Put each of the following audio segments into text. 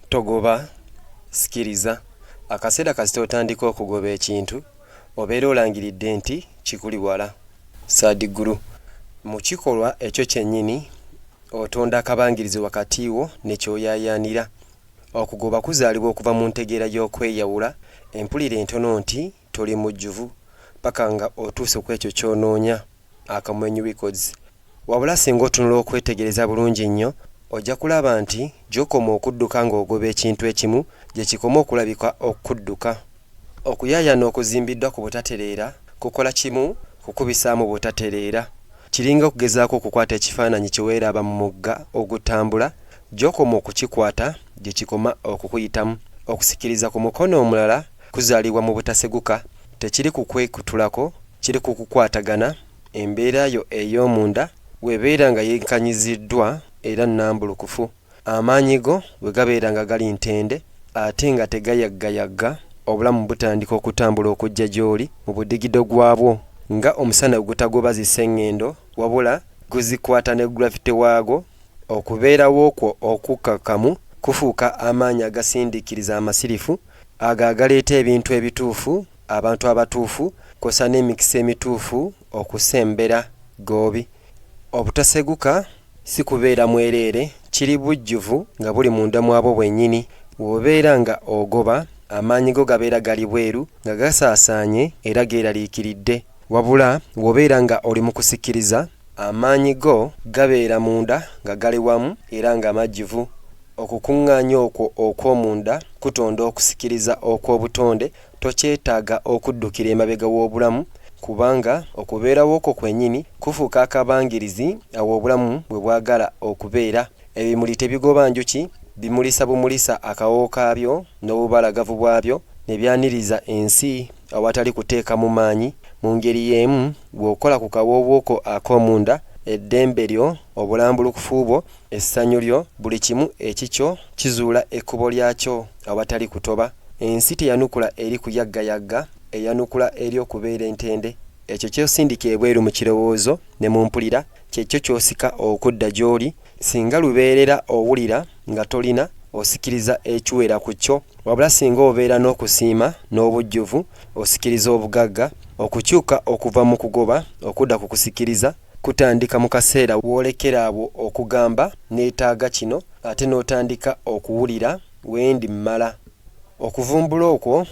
Togoba, sikiriza. Akaseera kasita otandika okugoba ekintu, obeera olangiridde nti kikuli wala. Sadhguru, Mu kikolwa ekyo kyennyini, otonda akabangirizi wakati wo ne ky'oyaayaanira. Okugoba kuzaalibwa okuva mu ntegeera y'okweyawula, empulira entono nti Toli mujjuvu paka nga otuuse kwekyo kyonoonya, Akamwenyu Records. Wabula singa otunula okwetegereza bulungi nnyo, ojja kulaba nti gyokoma okudduka nga ogoba ekintu ekimu, gyekikoma okulabika okukudduka. Okuyaayana okuzimbiddwa ku butatereera kukola kimu kukubisaamu butatereera. Kiringa okugezaako okukwata ekifaananyi kyeweeraba mu mugga ogutambula, gyokoma okukikwata gyekikoma okukuyitamu. Okusikiriza ku mukono omulala Kuzaalibwa mu butaseguka tekiri ku kwekutulako, kiri ku kukwatagana, embeera yo ey'omunda bw'ebeera nga yenkanyiziddwa era nnambulukufu, amaanyi go bwe gabeera nga gali ntende ate nga tegayaggayagga, obulamu butandika okutambula okujja gy'oli mu budigido gwabwo nga omusana ogutagoba zi sengendo wabula guzikwata ne gravity waagwo, okubeerawo kwo okukkakkamu kufuuka amaanyi agasindiikiriza amasirifu Ago agaleeta ebintu ebituufu, abantu abatuufu, kwosa n'emikisa emituufu okusembera goobi. Obutaseguka si kubeera mwereere, kiri bujjuvu nga buli munda mwabwo bwenyini. Wobeera nga ogoba, amaanyi go gabeera gali bweru nga gasaasaanye era geeraliikiridde. Wabula wobeera nga oli mu kusikiriza, Amaanyi go gabeera munda nga gali wamu era nga majjuvu. Okukuŋŋaanya okwo okw'omunda kutonda okusikiriza okw'obutonde, tokyetaaga okuddukira emabega w'obulamu, kubanga okubeerawo kwo kwennyini kufuuka akabangirizi awo obulamu we bwagala okubeera. Ebimuli tebigoba njuki, bimulisa bumulisa akawoowo kaabyo n'obubalagavu bwabyo ne byaniriza ensi Awatali kuteekamu maanyi, mu ngeri y'emu bw'okola ku kawoowo ko ak'omunda, eddembe lyo, obulambulukufu bwo, essanyu lyo, buli kimu ekikyo kizuula ekkubo lyakyo awatali kutoba. Ensi teyanukula eri kuyaggayagga, eyanukula eri okubeera entende. Ekyo ky'osindika ebweru mu kirowoozo ne mu mpulira, kye kyo ky'osika okudda gy'oli. Singa lubeerera owulira nga tolina osikiriza ekiwera ku kyo, wabula singa obeera n'okusiima n'obujjuvu osikiriza obugagga. Okukyuka okuva mu kugoba okudda ku kusikiriza kutandika mu kaseera w'olekera awo okugamba nneetaaga kino ate n'otandika okuwulira wendi mmala okuvumbula okwo.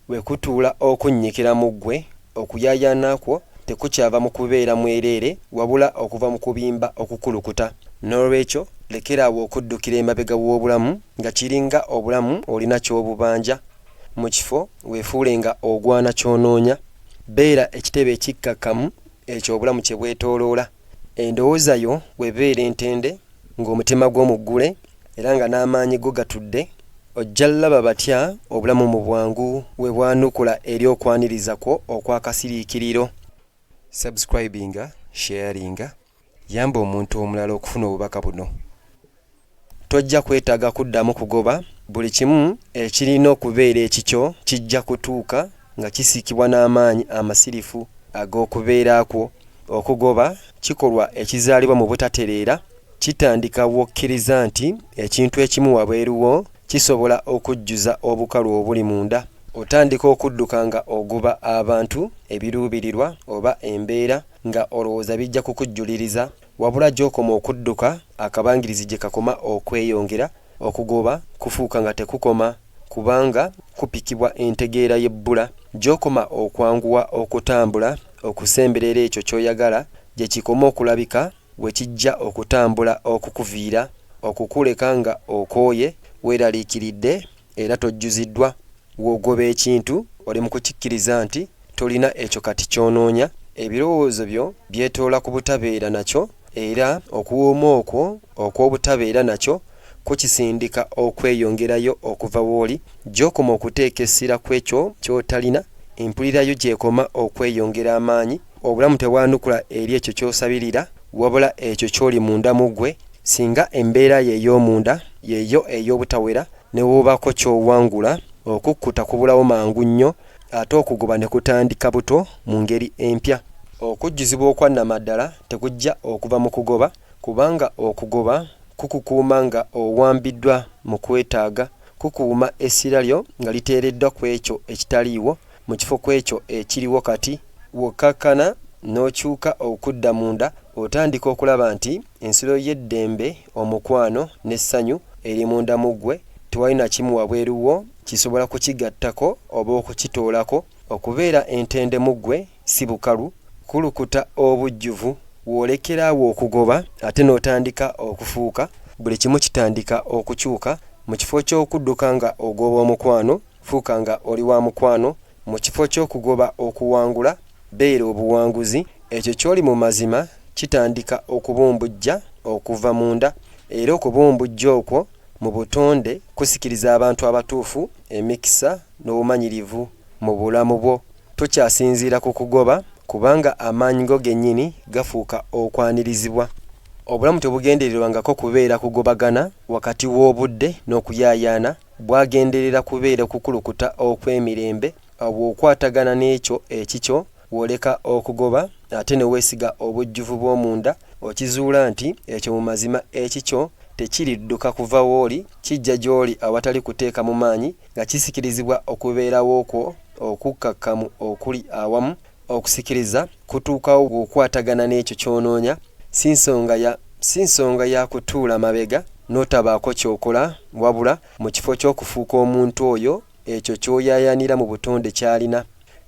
Bwe kutuula okunnyikira mu ggwe, okuyaayaana kwo tekukyava mu kubeera mwereere wabula okuva mu kubimba okukulukuta. N'olwekyo lekera awo okuddukira emabega w'obulamu nga kiringa obulamu olina ky'obubanja. Mu kifo weefuule nga ogwana ky'onoonya, beera ekitebe ekikkakkamu ekyo obulamu kye bwetooloola. Endowooza yo webeere ntende ng'omutima gwo muggule era nga n'amaanyi go gatudde, ojja laba batya obulamu mu bwangu we bwanukula eri okwaniriza kwo okwa kasiriikiriro. Subscribinga, sharinga, yamba omuntu omulala okufuna obubaka buno. Tojja kwetaaga kuddamu kugoba, buli kimu ekirina okubeera ekikyo kijja kutuuka nga kisiikibwa n'amaanyi amasirifu ag'okubeera kwo. Okugoba kikolwa ekizaalibwa mu butatereera. Kitandika bw'okkiriza nti ekintu ekimu wabweru wo kisobola okujjuza obukalu obuli munda. Otandika okudduka nga ogoba abantu, ebiruubirirwa, oba embeera nga olowooza bijja kukujjuliriza. Wabula gy'okoma okudduka, akabangirizi gye kakoma okweyongera. Okugoba kufuuka nga tekukoma kubanga kupikibwa entegeera y'ebbula. Gy'okoma okwanguwa okutambula okusemberera ekyo ky'oyagala, gye kikoma okulabika we kijja okutambula okukuviira okukuleka nga okooye, weeraliikiridde era tojjuziddwa. W'ogoba ekintu oli mu kukikkiriza nti tolina ekyo kati ky'onoonya. Ebirowoozo byo byetoola ku butabeera nakyo era okuwooma okwo okw'obutabeera nakyo kukisindika okweyongerayo okuva w'oli. Gy'okoma okuteeka essira kw'ekyo ky'otalina, empulira yo gy'ekoma okweyongera amaanyi. Obulamu tebwanukula eri ekyo ky'osabirira, wabula ekyo ky'oli munda mu ggwe. Singa embeera yo ey'omunda y'eyo ey'obutawera, ne wobaako ky'owangula, okukkuta kubulawo mangu nnyo, ate okugoba ne kutandika buto mu ngeri empya. Okujjuzibwa okwa nnamaddala tekujja okuva mu kugoba, kubanga okugoba kukukuuma nga owambiddwa mu kwetaaga, kukuuma essira lyo nga liteereddwa ku ekyo ekitaliiwo, mu kifo kw'ekyo ekiriwo kati, wokkakkana n'okyuka okudda munda, otandika okulaba nti ensiro y'eddembe, omukwano, n'essanyu eri munda mu ggwe, tewali na kimu wabweru wo kisobola kukigattako oba okukitoolako. Okubeera entende mu ggwe si bukalu, kulukuta obujjuvu. W'olekera awo okugoba ate n'otandika okufuuka, buli kimu kitandika okukyuka. Mu kifo ky'okudduka nga ogoba omukwano, Fuuka nga oli wa mukwano. Mu kifo ky'okugoba okuwangula, beera obuwanguzi. Ekyo ky'oli mu mazima kitandika okubumbujja okuva munda, era okubumbujja okwo mu butonde kusikiriza abantu abatuufu, emikisa, n'obumanyirivu mu bulamu bwo. Tokyasinziira ku kugoba, kubanga amaanyi go gennyini gafuuka okwanirizibwa. Obulamu tebugendererwangako kubeera kugobagana wakati w'obudde n'okuyaayaana, bwagenderera kubeera kukulukuta okw'emirembe bw'okwatagana n'ekyo ekikyo, bw'oleka okugoba ate ne weesiga obujjuvu bw'omunda, okizuula nti ekyo mu mazima ekikyo tekiridduka kuva w'oli, kijja gy'oli awatali kuteekamu maanyi, nga kisikirizibwa okubeerawo kwo okukkakkamu okuli awamu Okusikiriza kutuukawo bw'okwatagana n'ekyo ky'onoonya, si nsonga ya, si nsonga ya kutuula mabega n'otabaako ky'okola, wabula mu kifo ky'okufuuka omuntu oyo ekyo ky'oyaayaanira mu butonde ky'alina.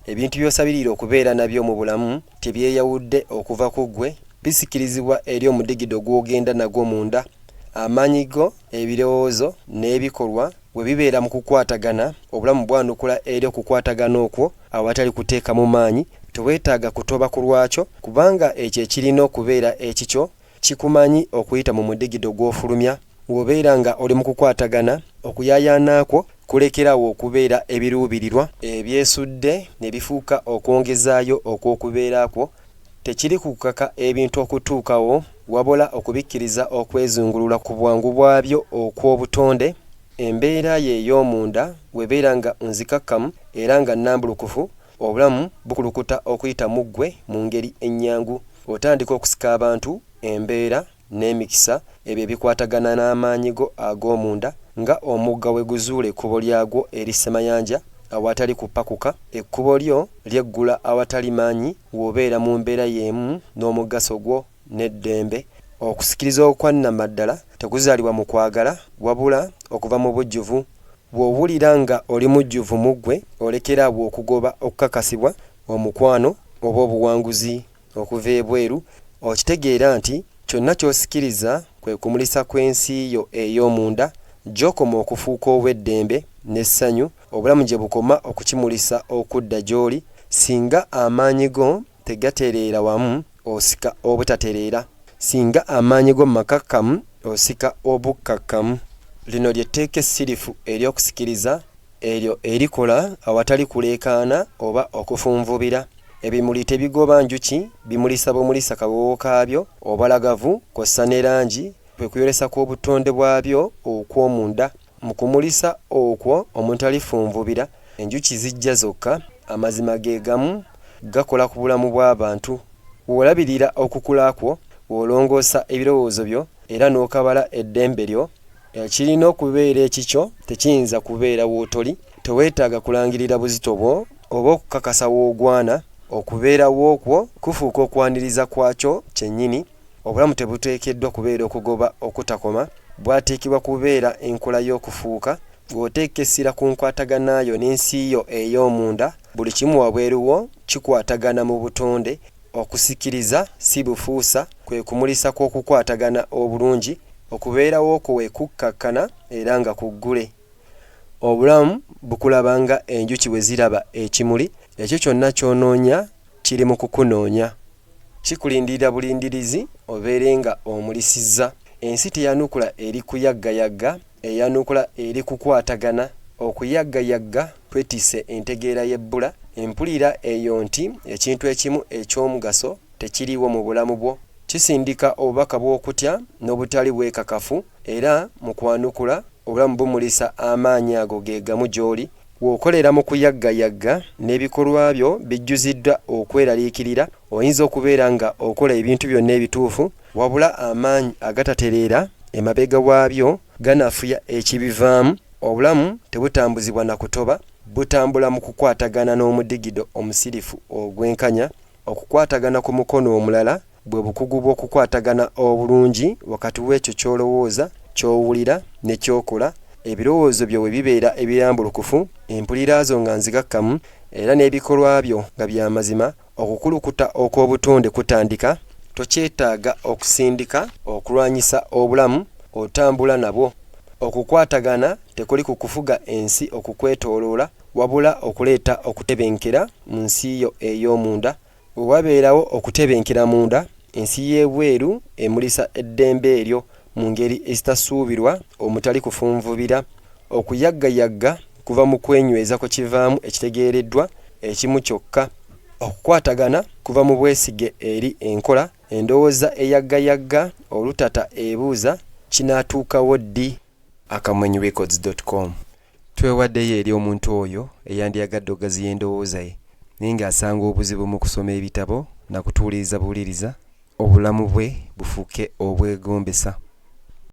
Ebintu by'osabirira okubeera nabyo mu bulamu tebyeyawudde okuva ku ggwe, bisikirizibwa eri omudigido gw'ogenda nagwo munda, amaanyi go Ebirowoozo n'ebikolwa we bibeera mu kukwatagana, obulamu bwanukula eri okukwatagana okwo awatali kuteekamu maanyi. Teweetaaga kutoba ku lwakyo, kubanga ekyo ekirina okubeera ekikyo kikumanyi okuyita mu mudigido gw'ofulumya ng'obeera nga oli mu kukwatagana. Okuyaayaana kwo kulekera awo okubeera ebiruubirirwa ebyesudde ne bifuuka okwongezaayo okw'okubeera kwo. Tekiri ku kukaka ebintu okutuukawo, wabula okubikkiriza okwezungulula ku bwangu bwabyo okw'obutonde. Embeera yo ey'omunda bw'ebeera nga nzikakkamu era nga nnambulukufu, obulamu bukulukuta okuyita mu ggwe mu ngeri ennyangu. Otandika okusika abantu, embeera. n'emikisa, ebyo ebikwatagana n'amaanyi go ag'omunda, nga omugga we guzuula ekkubo lyagwo eri ssemayanja awatali kupakuka, ekkubo lyo lyeggula awatali maanyi w'obeera mu mbeera y'emu n'omugaso gwo n'eddembe. Okusikiriza okwa nnamaddala tekuzaalibwa mu kwagala, wabula okuva mu bujjuvu. Bw'owulira nga oli mujjuvu mu ggwe, olekera awo okugoba okukakasibwa, omukwano, oba obuwanguzi. Okuva ebweru, okitegeera nti kyonna ky'osikiriza kwe kumulisa kw'ensi yo ey'omunda, gy'okoma okufuuka ow'eddembe n'essanyu, obulamu gye bukoma okukimulisa okudda gy'oli, singa amaanyi go tegatereera wamu, osika obutatereera, singa amaanyi go makakkamu, osika obukkakkamu. Lino lye tteeka essirifu ery'okusikiriza. Eryo erikola awatali kuleekaana oba okufunvubira. Ebimuli tebigoba njuki, bimulisa bumulisa kawoowo kaabyo, obalagavu kw'ossa ne langi, kwe kuyolesa kw'obutonde bwabyo okw'omunda. Mu kumulisa okwo omutali funvubira, enjuki zijja zokka. Amazima ge gamu, gakola ku bulamu bw'abantu. W'olabirira okukula kwo, w'olongoosa ebirowoozo byo era n'okabala eddembe lyo, Eh, kirina okubeera ekikyo tekiyinza kubeera wootoli teweetaaga kulangirira buzito bwo oba okukakasa woogwana okubeerawo kwo kufuuka okwaniriza kwakyo kyennyini obulamu tebuteekeddwa kubeera okugoba okutakoma bwateekebwa kubeera enkola y'okufuuka ng'oteeka essira ku nkwataganaayo n'ensi yo ey'omunda buli kimu wabweruwo kikwatagana mu butonde Okusikiriza si bufuusa, kwe kumulisa kw'okukwatagana obulungi, okubeerawo kwe kukkakkana era nga kuggule. Obulamu bukulaba nga enjuki bwe ziraba ekimuli, ekyo kyonna ky'onoonya kiri mu kukunoonya. Kikulindirira bulindirizi obeere nga omulisizza. Ensi teyanukula eri kuyaggayagga. Eyanukula eri kukwatagana, okuyaggayagga kwetisse entegeera y'ebbula empulira eyo nti ekintu ekimu eky'omugaso tekiriiwo mu bulamu bwo. Kisindika obubaka bw'okutya n'obutali bwekakafu, era mu kwanukula obulamu bumulisa amaanyi ago ge gamu gy'oli. Bw'okolera mu kuyaggayagga n'ebikolwa byo bijjuziddwa okweraliikirira, oyinza okubeera nga okola ebintu byonna ebituufu Wabula amaanyi agatatereera emabega waabyo ganafuya ekibivaamu, obulamu tebutambuzibwa na kutoba, butambula mu kukwatagana n'omudigido omusirifu ogwenkanya, okukwatagana ku mukono omulala bwe bukugu bw'okukwatagana obulungi wakati w'ekyo ky'olowooza, ky'owulira ne ky'okola, ebirowoozo byo bwe bibeera ebirambulukufu, empulira zo nga nzigakkamu era n'ebikolwa byo nga bya mazima, Okukulukuta okw'obutonde kutandika, tokyetaaga okusindika okulwanyisa obulamu, otambula nabwo. Okukwatagana tekuli ku kufuga ensi okukwetooloola, wabula okuleeta okutebenkera mu nsi yo ey'omunda. Bwe wabeerawo okutebenkera munda, Ensi y'ebweru emulisa eddembe eryo mu ngeri ezitasuubirwa omutali kufunvubira. Okuyaggayagga kuva mu kwenyweza kwe kivaamu ekitegeereddwa ekimu kyokka. Okukwatagana kuva mu bwesige eri enkola. Endowooza eyaggayagga olutata ebuuza, Kinaatuukawo ddi? Akamwenyu Records dot com Twewaddeyo eri omuntu oyo eyandyagadde okugaziya endowooza ye naye ng'asanga obuzibu mu kusoma ebitabo na kutuuliriza buwuliriza, obulamu bwe bufuuke obwegombesa.